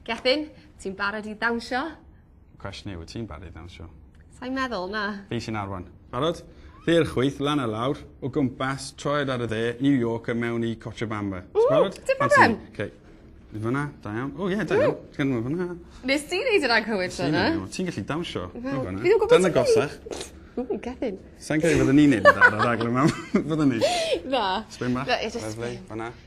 Gethin, ti'n barod i ddawnsio? Cwestiwn yw, wyt ti'n barod i ddawnsio? Sa'n meddwl, na. Fi sy'n arwain. Barod? Ddi'r chwyth, lan a lawr, o gwmpas, troed ar y dde, New York a mewn i Cochabamba. Ww, dim problem. Okay. Ni fyna, da iawn. O, ie, da iawn. Ti'n gwneud fyna. Nes ti wneud yr anghywir tro yna? Ti'n gallu dawnsio. Dyna gosach. Ww, Gethin. Sa'n credu fydden ni'n neud yn dda ar y raglen mam. Fydden ni? Na. Sbyn bach. Lyfli, fyna.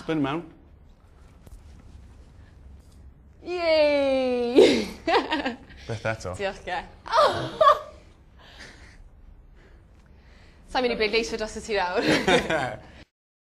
Spin him mewn. Yay! Beth eto? Diolch ge. Sa'n mynd i bleidleisio dros y ti nawr.